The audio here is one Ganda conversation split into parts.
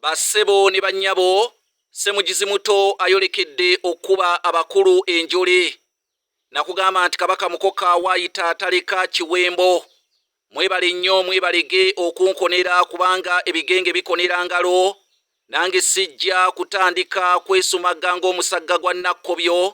Bassebo ne bannyabo, Ssemugizi Muto ayolekedde okukuba abakulu enjole nakugamba nti Kabaka Mukoka waayita taleka kiwembo. Mwebale nnyo mwebalege okunkonera kubanga ebigenge bikonera ngalo nange sijja kutandika kwesumagga ng'omusagga gwa Nakkobyo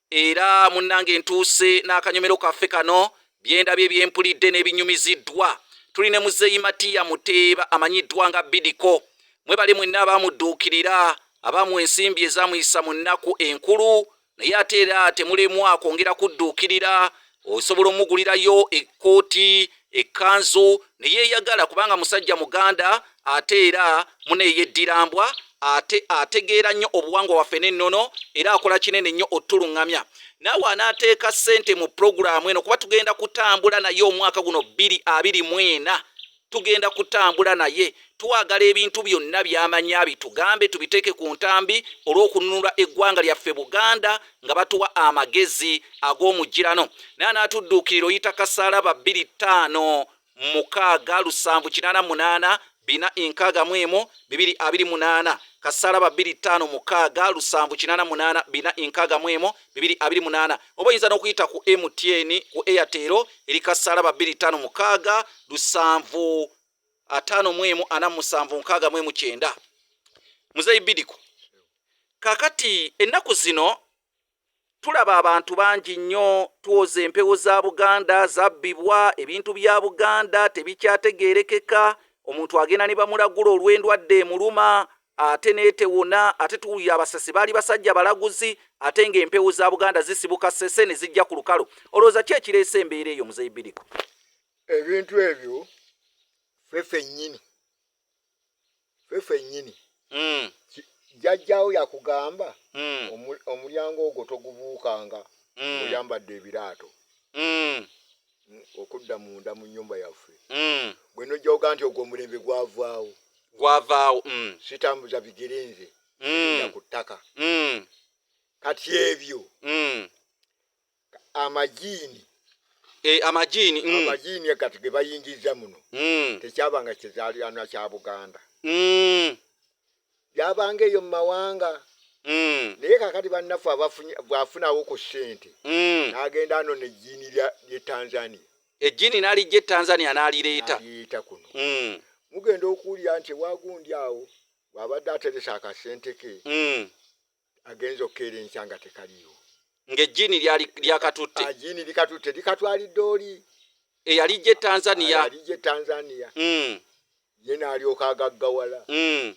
Era munnange ntuuse n'akanyomero kaffe kano byendabye byempulidde n'ebinyumiziddwa tuli ne muzeeyi matiya muteeba amanyiddwa nga bidiko mwebale mwenna abaamudduukirira abaamu ensimbi ezaamuyisa mu nnaku enkulu naye ate era temulemwa kwongera kudduukirira osobola omugulirayo ekkooti ekkanzu ne yeeyagala kubanga musajja muganda ate era muneeyeddirambwa ate ategeera nnyo obuwangwa waffe n'ennono era akola kinene nnyo otuluŋŋamya naawe anaateeka ssente mu pulogulaamu eno kuba tugenda kutambula naye omwaka guno bbiri abiri mwena tugenda kutambula naye twagala ebintu byonna byamanya bitugambe tubiteeke ku ntambi olw'okununula eggwanga lyaffe buganda nga batuwa amagezi ag'omugirano naye anaatudduukirira oyita kasaalaba 25 mukaaga lusanvu kinaana munaana bina enkaaga mu emu bibiri abiri munaana kasaalaba 25 mukaaga lusanvu kinaana munaana bina enkaaga mu emu bibiri abiri munaana oba oyinza n'okuyita ku mtn ku airtel eri kasaala babiri ttaano mukaaga lusanvu ataano mu emu ana musanvu nkaaga mu emu kyenda muzeeyi bidiku kakati ennaku zino tulaba abantu bangi nnyo tuwoza empewo za buganda zabbibwa ebintu bya buganda tebikyategeerekeka omuntu agenda ne bamulagula olw'endwadde emuluma ate netewona ate tuwulira abasasi baali basajja balaguzi ate nga empewo za buganda zisibuka sese ne zijja ku lukalo olowooza ki ekireesa embeera eyo muzeyi biriko ebintu ebyo fefenyini fefenyini hmm. jajjawo yakugamba hmm. omulyango ogwo togubuukanga hmm. oyambadde ebiraato okudda munda mu nyumba yaffe mm. bwe nojjawoga nti ogwo omulembe gwavaawo gwavaawo mm. sitambuza bigere nze mm. ku ttaka mm. kati ebyo mm. amajiini e, amajiini mm. amajiini kati ge bayingiza muno mm. tekyabanga kizaalirana kya buganda mm. yabanga eyo mu mawanga mm. naye kakati bannaffe bwafunawo ku sente mm. nagenda ano nejjiini lye tanzania ejjiini nalijja etanzania nalireeta kuno mm. mugenda okuwulira nti ewagundi awo bwabadde ateresa akasente ke agenza okukeera enkya nga tekaliiwo nga ejjiini lyakatutte ah, ejjiini likatutte likatwalidde oli eyalijja etanzania yalijja etanzania hmm. ye naalyoka agaggawala hmm.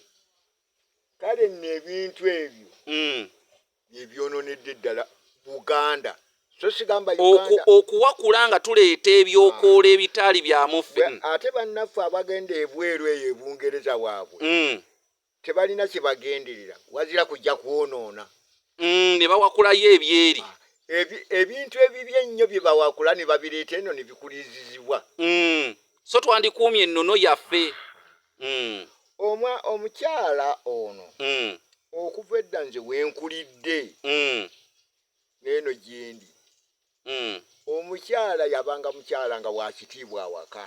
kale nno ebintu ebyo hmm. byebyononedde ddala buganda okuwakula nga tuleeta ebyokoola ah. ebitaali byamuffe ate bannaffe abagenda ebweru eyo ebungereza waabwe tebalina kye bagenderera wazira kujja kwonoona. Mm, ne bawakulayo ebyeri. Ah, ebi, ebintu ebibi ennyo bye bawakula ne babireeta eno ne bikuliizizibwa. Mm, so twandikuumye ennono yaffe. Mm. Omwa omukyala ono mm. okuva edda nze wenkulidde mm. neeno gyendi mm. omukyala yabanga mukyala nga wakitiibwa awaka